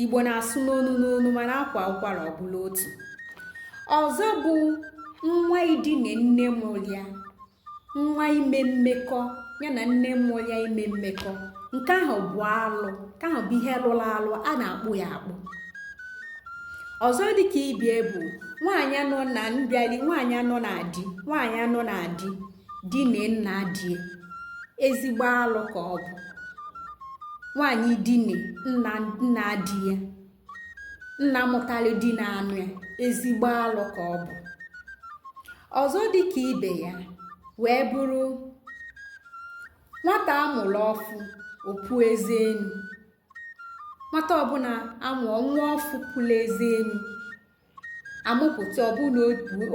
igbo na-asụ n'onu n'onu mana akwaa ụkwara ọ bụrụ otu ọzọ bụ nwa idine nne mụrụ ya nwa ime mmekọ ya na nne mụrụ ya ime mmekọ nke ahụ bụ alụ nke ahụ bụ ihe lụrụ alụ a na-akpụ ya akpụ ọzọ dịka ibie bụ nwaanyị nọ na mbịali nwaanyị nọ na di nwaanyị nọ na di dine nna die ezigbo alụ ka ọ bụ nwaanyị dine nna di ya nna mụtara di na-anụ ya ezigbo alụ ka ọ bụ ọzọ dị ka ibe ya wee bụrụ nwata a mụrụ ọfụ o pu eze enu nwata ọbụla amụọ nwa ọfụ puru eze enu amụpụta ọ bụrụ na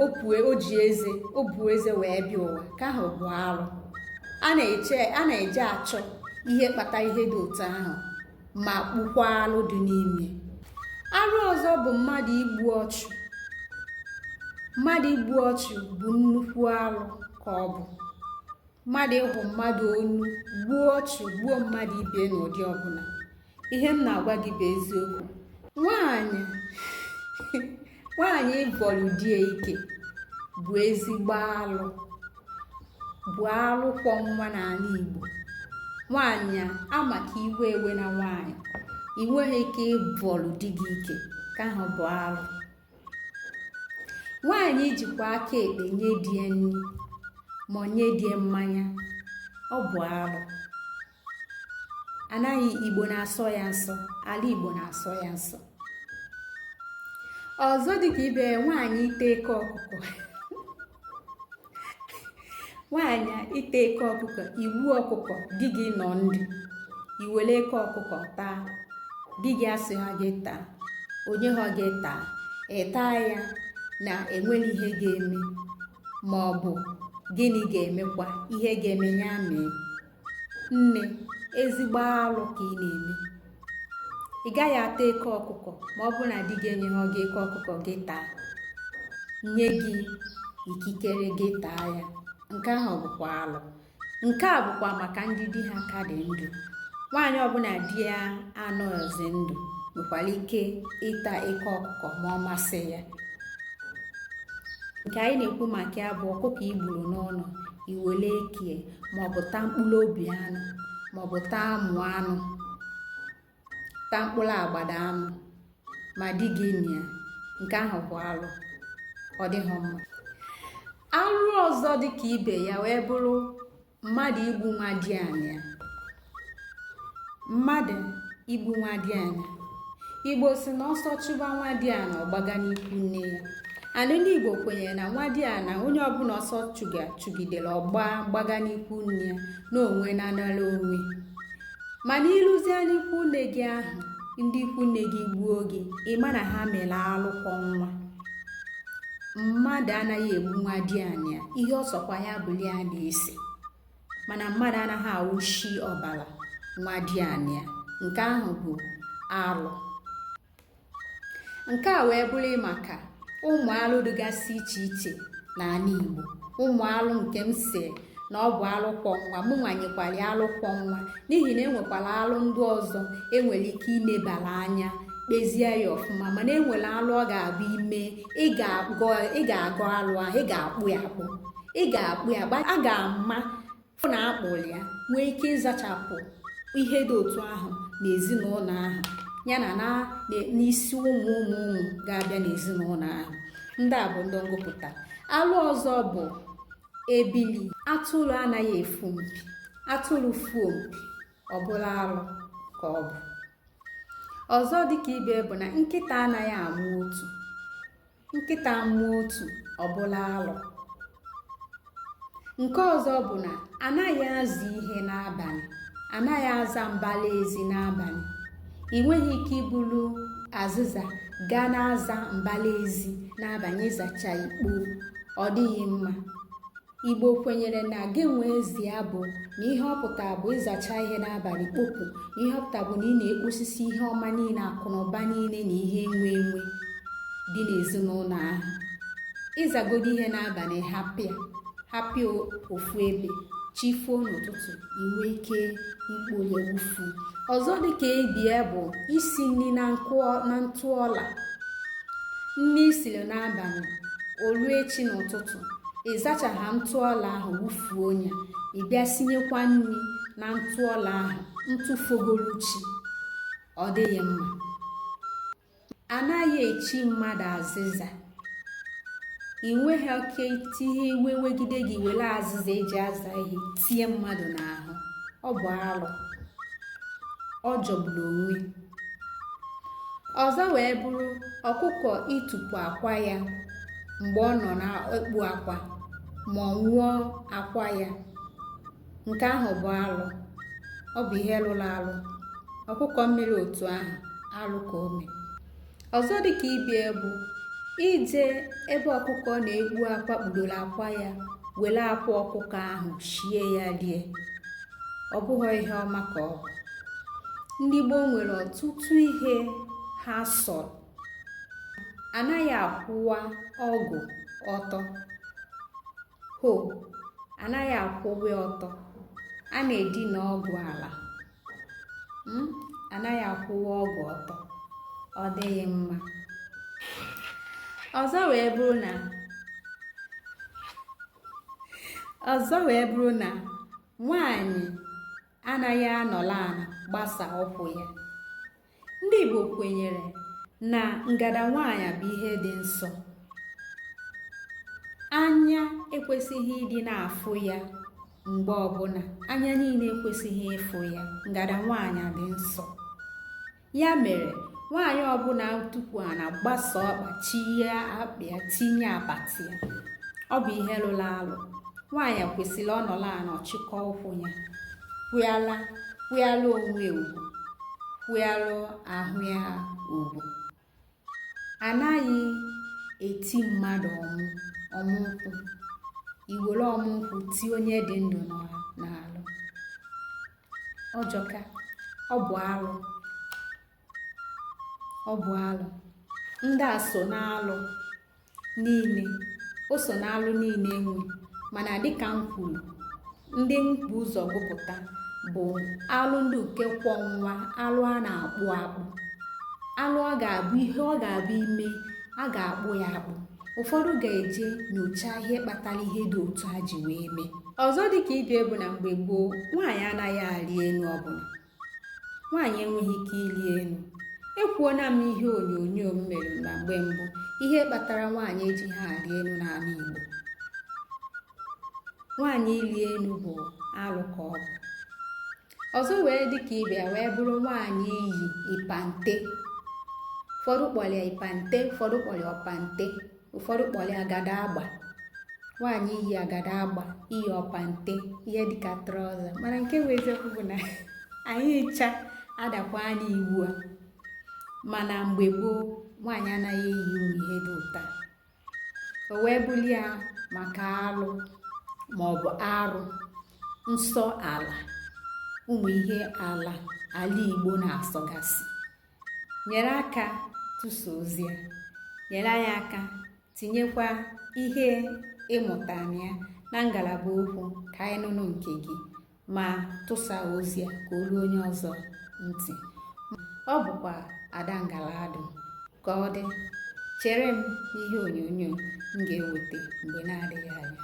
o ji eze o bu eze wee bịa ụwa ka ahụ bụ arụ a na-eje achọ ihe kpata ihe dị otu ahụ ma kpụkwaa alụ dị n'ime arụ ọzọ bụ mmadụ igbu ọchụ mmadụ igbu ọchụ bụ nnukwu arụ ka ọ bụ mmadụ ịhụ mmadụ onu gbuo ọchụ gbuo mmadụ ibe n'ụdị ọbụla ihe m na-agwa gị bụ eziokwu nwaanyị nwaanyị ịbọrọ di ya ike bụ ezigbo alụ bụ alụ kwọ nwa n'ala Igbo nwaanyị a ma ka iwe ewena nwaanyị i nweghị ike ịbọrọ di gị ike ka ahụ bụ alụ nwaanyị jikwa aka ekpe nye di ya nri ma nye di ya mmanya ọ bụ arụ ana igbo na-asọ ya nsọ ala igbo na-asọ ya nsọ ọzọ dịka ibe nwaanyị ịta eke ọkụkọ nwaanyị ịta eke ọkụkọ igbu ọkụkọ di gị nọ ndụ i were eke ọkụkọ taa di gị asịha gị taa o nyeha gị taa ị taa ya na enweghị ihe ga-eme ma ọ bụ gịnị ga-emekwa ihe ga-eme ya mee nne ezigbo alụ ka ị na-eme ị gaghị ata eke ọkụkọ ma ọ bụrụ na di gị enyeghị gị eke ọkụkọ gị taa nye gị ikikere gị taa ya nke ahụ bụkwa alụ nke a bụkwa maka ndị di ha ka dị ndụ nwaanyị ọbụla di ya anọghịzi ndụ nwekwara ike ịta eke ọkụkọ ma ọ masị ya nke anyị na-ekwu maka ya bụ ọkụkọ i gburu n'ụnọ i wele ekie maọbụ taa mkpụrụ obi anụ maọbụ taa amụ anụ taa mkpụrụ agbada anụ ma di gị nọ ya nke ahụ bụ alụ ọ dịghị mma alụ ọzọ dị ka ibe ya wee bụrụ mmadụ igbu nwadiana ya mmadụ igbu nwadiana ya igbo sị na ọsọ chụba nwadiana ọ gbaga n'ikwu nne ya anyị ndị igbo kwenyere na nwadiana onye ọbụla ọsọ chụga chụgidere ọ gba gbaga n'ikwu nne ya na onwe na anara onwe mana i luzie n'ikwu nne gị ahụ ndị ikwu nne gị gbuo gị ị ma na ha mere alụ kwọ nwa mmadụ anaghị egbu nwadiana ya ihe ọ sọkwa ya bụlụ a na-ese mana mmadụ anaghị awụshi ọbara nwadiana ya nke ahụ bụ alụ nke a wee bụrụ maka ụmụ alụ dịgasị iche iche n'ala Igbo ụmụ alụ nke m sị na ọ bụ alụ kwọ nwa mụnwa nyekwara ya alụ kwọ nwa n'ihi na enwekwara alụ ndị ọzọ enwere ike inebara anya kpezie ya ọfụma mana enwere alụ ọ ga-abụ i mee ị ga-agọ alụ ahụ ị ga-akpụ ya akpụ ị ga-akpụ ya a ga-ama fụ na a kpụrụ ya nwee ike ịzachapụ ihe dị otu ahụ n'ezinụlọ ahụ ya na na n'isi ụmụ ụmụ ụmụ ga-abịa n'ezinụlọ ahụ ndị a bụ ndị m gụpụta alụ ọzọ bụ ebili atụrụ anaghị efu mpi atụrụ fuo mpi ọ bụla alụ ka ọ bụ ọzọ dịka ibe bụ na nkịta anaghị amụ otu nkịta mụọ otu ọ bụlụ alụ nke ọzọ bụ na anaghị aza ihe n'abalị anaghị aza mbala ezi n'abalị ị nweghị ike ibulu azịza gaa na-aza mbala ezi n'abalị ịzacha ikpo ọ dịghị mma Igbo kwenyere na gị nwee ezi abụ na ihe ọ pụta bụ ịzacha ihe n'abalị kpopụ na ihe ọ pụta bụ na ị na-ekposisi ihe ọma niile akụ na ụba niile na ihe enwe enwe dị n'ezinụlọ ahụ ị zagodo ihe n'abalị hapụ ya hapụ ya ofu ebe chi foo n'ụtụtụ i nwee ike ikpo ya wufuo ọzọ dịka ibe ya bụ isi nri na ntụ ọla nri i siri n'abalị o luo echi n'ụtụtụ ị zachaha ntụ ọla ahụ wufuo onye ị bịa sinyekwa nri na ntụ ọla ahụ ntụ fogolu chi ọ dịghị mma anaghị echi mmadụ azịza ị nweghị oke tinye iwe wegide gị were azịza eji aza ihe tie mmadụ n'ahụ ọ bụ alụ ọ jọgburu onwe ọzọ wee bụrụ ọkụkọ ịtụpu akwa ya mgbe ọ nọ na-ekpu akwa ma ọ ṅụọ akwa ya nke ahụ bụ alụ ọ bụ ihe lụrụ alụ ọkụkọ mere otu ahụ alụ ka o me ọzọ dị ka ibe ya bụ ije ebe ọkụkọ na-ekpu akwa kpudoro akwa ya were akwa ọkụkọ ahụ shie ya rie ọ bụghị ihe ọma ka ọ bụ ndị gboo nwere ọtụtụ ihe ha sọrọ anaghị akwụwa ọgụ ọtọ hoe anaghị akwụwe ọtọ a na-edina ọgụ ala hmm? anaghị akwụwe ọgụ ọtọ ọ dịghị mma ọzọ wee bụrụ na nwanyị anaghị anọlụ ana gbasa ụkwụ ya ndị Igbo kwenyere na ngada nwaanyị bụ ihe dị nsọ anya ekwesịghị ịdị na-afụ ya mgbe ọbụla anya niile ekwesịghị ịfụ ya ngada nwaanyị dị nsọ ya mere nwaanyị ọbụla tukwu ana gbasa ọkpa chie akwa ya tinye apata ya ọ bụ ihe lụrụ alụ nwaanyị kwesịrị ọ nọlụ ana ọ chịkọ ụkwụ ya kwa kwanyelụ onwe ugwu kwanyelụ ahụ ya ugwu anaghị eti mmadụ ọmụ ọmụ nkwụ iwere ọmụ nkwụ tie onye dị ndụ n'alụ ọ jọka ọ bụ arụ ọ bụ alụ ndị a so n'alụ niile o so n'alụ niile e nwe mana dịka m kwuru ndị m bu ụzọ gụpụta bụ alụ ndị nke ukwu nwa alụ a na-akpụ akpụ alụ ọ ga-abụ ihe ọ ga-abụ i mee a ga-akpụ ya akpụ ụfọdụ ga-eje nyochaa ihe kpatara ihe dị otu a ji wee mee ọzọ dịka ibe ya bụ na mgbe gboo nwaanyị anaghị arị enu ọbụla nwaanyị enweghị ike ịlị enu ekwuona m ihe onyonyo m mere na mgbe mbụ ihe kpatara nwaanyị ejighị arị enu n'ala Igbo nwaanyị ịlị enu bụ alụ ka ọ bụ ọzọ wee dị ka ibe ya wee bụrụ nwaanyị iyi ipante ụfọdụ kpọrọ ya ipante ụfọdụ kpọrọ ya ọpante ụfọdụ kpọrọ ya agada agba nwaanyị iyi agada agba iyi ọpante ihe dịka trọza mana nke bụ eziokwu bụ na anyị ncha adakwaana iwu a mana mgbe gboo nwaanyị anaghị eyi ụmụ ihe dị otu a o wee bụlụ ya maka alụ maọbụ arụ nsọ ala ụmụ ihe ala ala igbo na-asọgasị nyere aka tụsa ozi a nyere anyị aka tinyekwa ihe ị mụtara na ya na ngalaba okwu ka anyị nụnụ nke gị ma tụsa ozi a ka o ruo onye ọzọ ntị ọ bụkwa ada ngaladụ ka ọ dị chere m n'ihe onyonyo m ga-eweta mgbe na-adịghị anya